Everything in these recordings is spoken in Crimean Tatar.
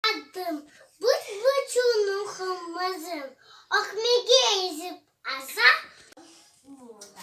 Adım, büt-bütünüm qımızım. Ökmege ezip aza bu da.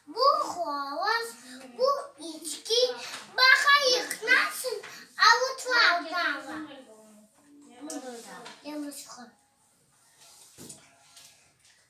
Bu hovuz, bu içki, baha yıqnasın avutlav dava. Bu da. Yalnız qol.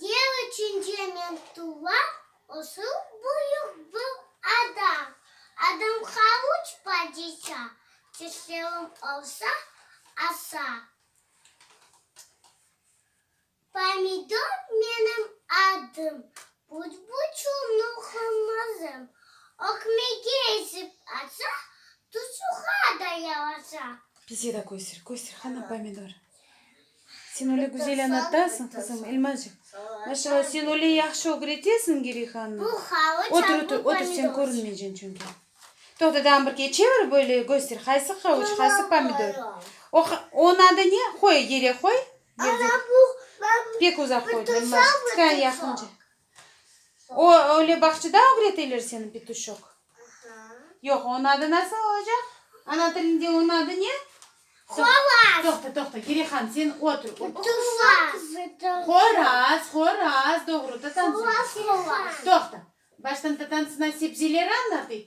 Ne içün cemen tuva osıl büyük bu ada? Adamğa üç padiça, tişlevim olsa, asa. Pomidor menim adım, butbuçu Nuhım mızım. Ökmege ezip atsa, tusuğa da yalasa. Bize de köster, köster, hana pomidor? Sen öyle güzel añatasıñ, qızım, Elmazcığım. Maşallah, sen öyle yahşı ögretesiñ, Gerihanna. Otur, otur, otur, sen körünmeyceksin çünki. Toqta, tağın bir keçivir, böyle köster, qaysı havuç, qaysı pomidor. O, onıñ adı ne? Qoy, yere qoy. Ana, bu, ben. Pek uzaq qoydın, Elmazcığım, tıkayın yaqınca. O, öyle bağçada ögreteler seni, Petuşok? Yoq, onıñ adı nasıl olacaq? Ana tilinde onıñ adı ne? Qoraz. Toqta, toqta, Gerihan, sen otur. Tuvaq. Qoraz, qoraz, doğru, tatantsın. Qoraz, qoraz. Toqta, baştan tatantsına sebzeleri añlatıyıq,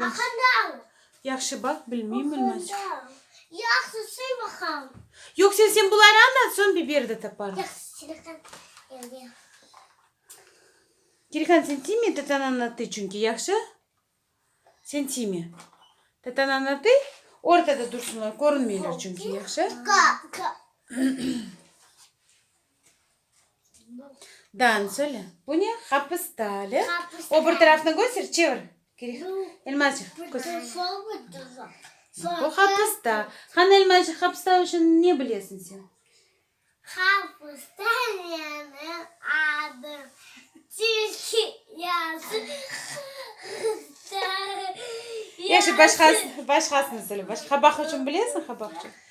Aqandal! Yahşı baq, bilmeyim, bilmezcik. Aqandal! Yahsı söy baqam! Yoq, sen, sen buları añlat, soñ biber de taparım. Yahsı, Çirikan evde. Çirikan, sen tiyme, tatan añlattı çünki, yahşı? Sen tiyme. Tatan añlattı, ortada dursınlar, körünmeyler çünki, yahşı? Ka, ka. Dan söyle. Bu ne? Hapis dali. O bir tarafnı göster, çevir. Elmazcıq, göster. Bu hapista. Hanı Elmazcıq, hapista üçün ne bilesiñ sen? Hapista menim adım. Tilki yazı. Yaxşı, başqasını söyle. Qabaq üçün bilesiñ, qabaq üçün?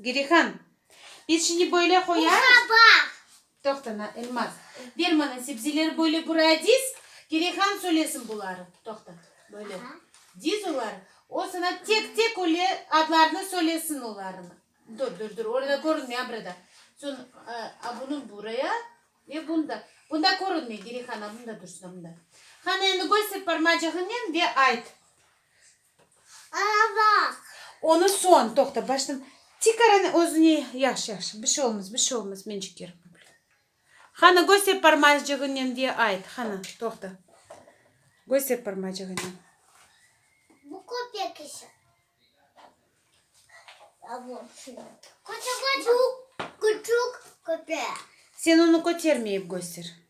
Gelihan, biz şimdi böyle qoyarız. Toqta, na, Elmaz. Ber maña sebzeleri böyle buraya diz. Gelihan söylesin buları. Toqta, böyle diz oları. O sana tek tek öyle adlarını söylesin olarnı. Dur, dur, dur, orada körünmey, a burada. Soñ, a bunı buraya ve bunı da. Bunda körünmey, Gelihan, a bunda dursın, a bunda. Hana, endi köster parmacığınen ve ayt. Arabaq. Onı soñ, toqta, baştan tikarını özüne, yahşı, yahşı, bir şey olmaz, bir şey olmaz, men çekerim. Hanı, köster parmacığınen ve ayt, hanı, toqta, köster parmacığınen. Bu kopya kişi. A bu kim? Köçük, köçük. Bu küçük köpek. Sen onı kötermeyip köster.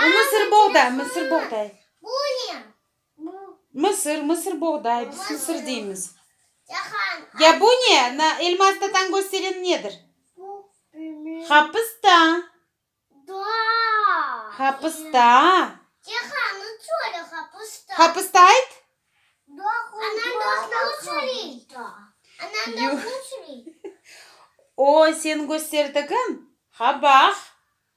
Bu mısır boğday, mısır boğday. Mısır, mısır boğday, biz mısır deymiz. Ya bu ne? Na elma astatan gösteren nedir? Hapısta. Hapısta. Hapısta ayt. O, sen gösterdigiñ, qabaq.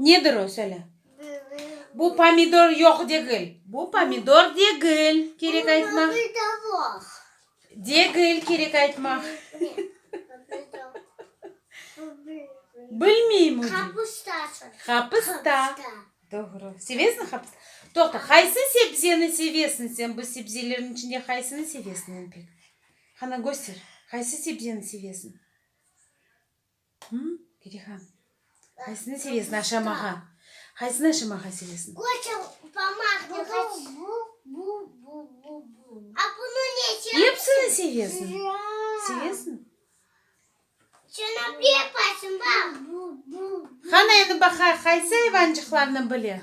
Nedir o, söyle? Bu pomidor yoq degil. Bu pomidor degil, kerek aytmaq. Degil, kerek aytmaq. Bilmeyim. Qapısta. Doğru. Sevesiñ qapısta? Toqta, qaysı sebzeni sevesiñ sen? Bu sebzelerin içinde qaysını sevesiñ en pek? Hana göster, qaysı sebzeni sevesiñ? Hımm, Perihan, qaysını sevesiñ aşamağa? Qaysını aşamağa sevesiñ? Epsini sevesiñ? Sevesiñ? Hana endi baqayıq, qaysı ayvancıqlarnı bile?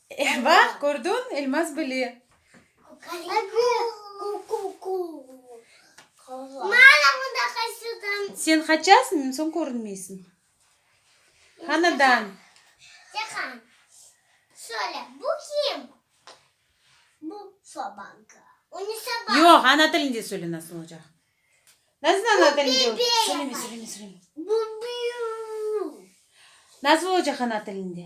Eh, bax, kördiñ, Elmaz bile. Sen qaçasıñ, soñ körünmeysiñ. Hanadan. Yoq, ana tilinde söyle, nasıl olacaq. Nasıl ana tilinde? Söyleme, söyleme, söyleme. Nasıl olacaq ana tilinde?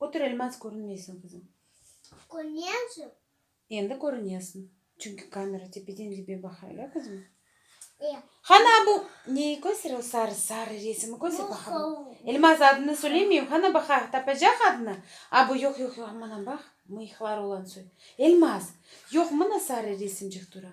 Köterilmez körünmeysiñ, qızım. Körünesim. Endi körünesiñ, çünki kamera tepeden dibe baqa, ya, qızım? E. Hana bu neyi köster, o sarı, sarı resimi köster baqa. Bu sovuq. Elmaz, adını söylemeyim, hana baqa, tapacaq adını? A, bu, yoq, yoq, yoq, mına baq, mıyıqları olan soy. Elmaz, yoq, mına sarı resimcik tura.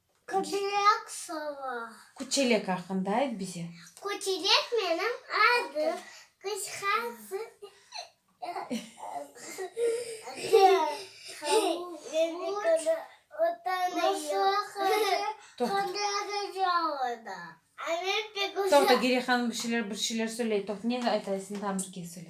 Küçülek sova. Küçülek aqqında ayt bize. Küçülek menim adım. Qısqası Toqta, Geriye hanım bir şeyler, bir şeyler söyley. Toq, ne aytaysıñ tam bir kez söyle.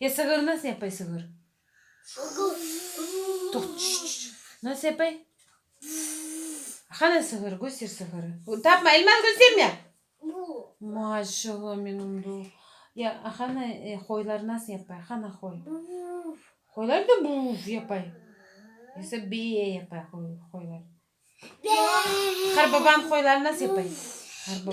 E sığır nasıl yapay sığır? Nasıl yapay? Hana sığır, göster sığırı. Tapma, Elmaz gösterme! Maşallah menim do. Ya hana qoylar nasıl yapay? Hana qoy. Qoylar da buv yapay. Yoksa be yapay qoylar. Qarbaban qoyları nasıl yapay? Qarbaban.